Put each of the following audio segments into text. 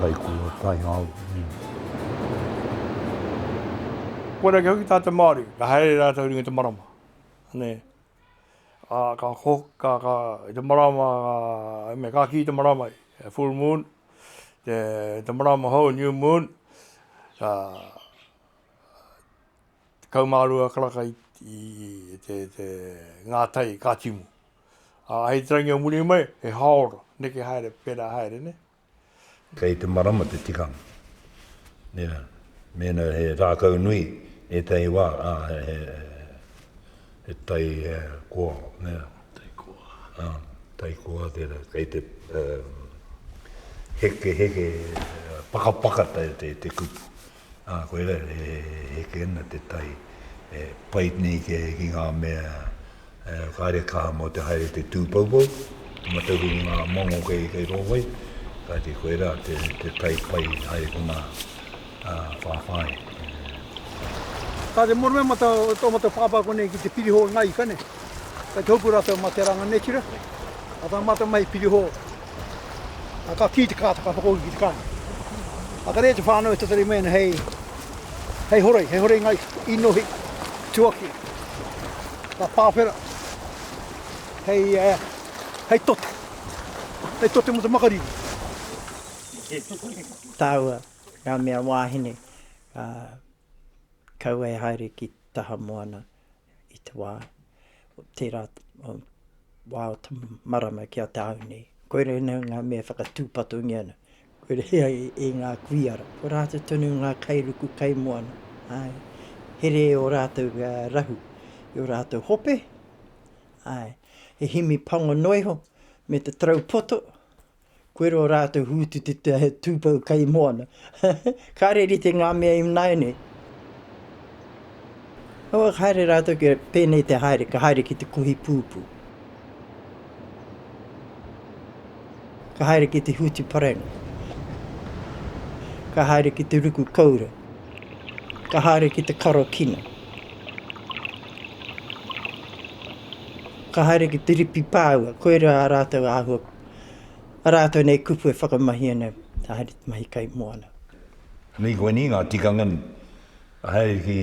Kaikua, Taiao, mm. Kua rake hoki tā te Māori, ka haere rātou ringa te marama. Nē. Ā, ka ko, ka, ka, i te marama, ka, me ka kī te marama, e full moon, te, te marama hou, new moon, ā, Tekau mā rua karaka i te ngā tai ka timu. Ā, hei te rangi o muri mai, he hāora, neke haere, pērā haere, nē. Kei te marama te tikanga. Nē, mēnā he rākau nui ētahi wā, ā, he tai koa, nē. Tai koa. Ā, tai koa tērā. Kei te hekeheke, pakapaka te kupu. Ā, koirā e heke ana te tai, e pai nei ki ngā mea kāre e kaha mō te haere te tūpoupou, te mataku ki ngā momo kei rō wai, kāti koirā te tai pai haere ko ngā whāwhāinga. Ka te mōhio mai tō mātou pāpā konei ki te pirihō i ngā ika nei, kei te hopu rātou mā te ranga nei tira, mā tā mātou mahi pirihō. A ka kī te kāta ka whakauhi ki te kāinga. A ka rere te whānau e tatari mai ana hei, hei horei, hei horei ngā inohi tuakiri, ngā pāwhera, hei, hei tote, hei tote mō te makariri. Tāua ngā mea wāhine, ā, kaua e haere ki taha moana. i te wā, tērā wā o te marama ki a tāu nei. Koira ina ngā mea whakatūpatungia ana. Koira ia i, i ngā kuiara. Ko rātou tonu ngā kairuku kaimoana. Ai. Here e o rātou uh, rahu, i o rātou hope. Ai. He himi pango noiho, me te tarau poto. Koirā rātou hūtututa he tūpou kai moana. Kāre rite ngā mea i nāianei. Awa ka haere rātou kia pēnei te haere, ka haere ki te kohi pūpū. Ka haere ki te hūtu parenga. Ka haere ki te ruku koura. Ka haere ki te karo kina. Ka haere ki te ripi pāua. Koirā rātou āhua. rātou nei kupu e whakamahi ana haere te mahi kai moana. Nui koinei ngā tikanga haere ki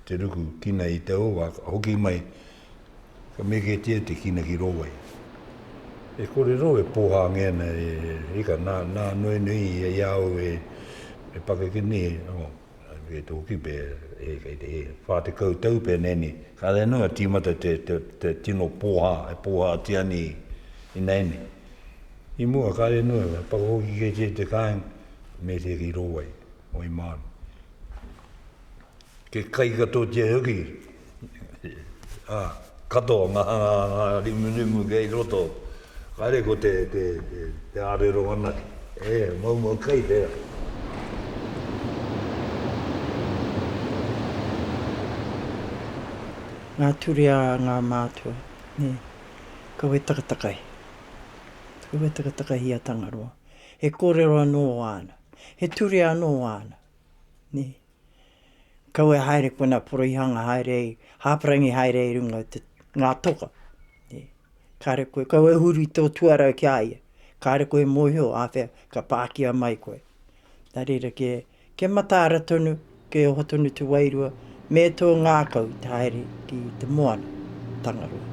te ruku kina i te owa ka hoki mai ka meketia te kina ki rō wai. E kore rō e pōhāngia ana e reka nā nō nui i a au e pakeke nei. E te hoki pe kei te wha tekau tau pe nei ni. Kare noa timata te tino poha e poha ati ani i nei ni. I mua kare noa he whakahoki kei te te kainga me te ki ro wai, wai manu. Ke kai katotia hoki. ā, katoa ngā hanganga rimurimu kei roto, kāre ko te, te, te, te ārero anake. E, maumau kai tērā. Ngā ture a ngā mātua, nē. Kaua e takatakahi. Kaua e takatakahi i a Tangaroa. He kōrero anō āna. He ture anō āna, nē. Kau e haere kona poroihanga haere i, hāparangi haere i runga te, ngā toka. Kāre koe, kau e huri tō tuarau ki a ia. Kāre koe mōhio, āwhea, ka pākia mai koe. Nā reira kē, kia mataara tonu, kē oho tonu te wairua, me tō ngākau te haere. ki te moana, Tangaroa.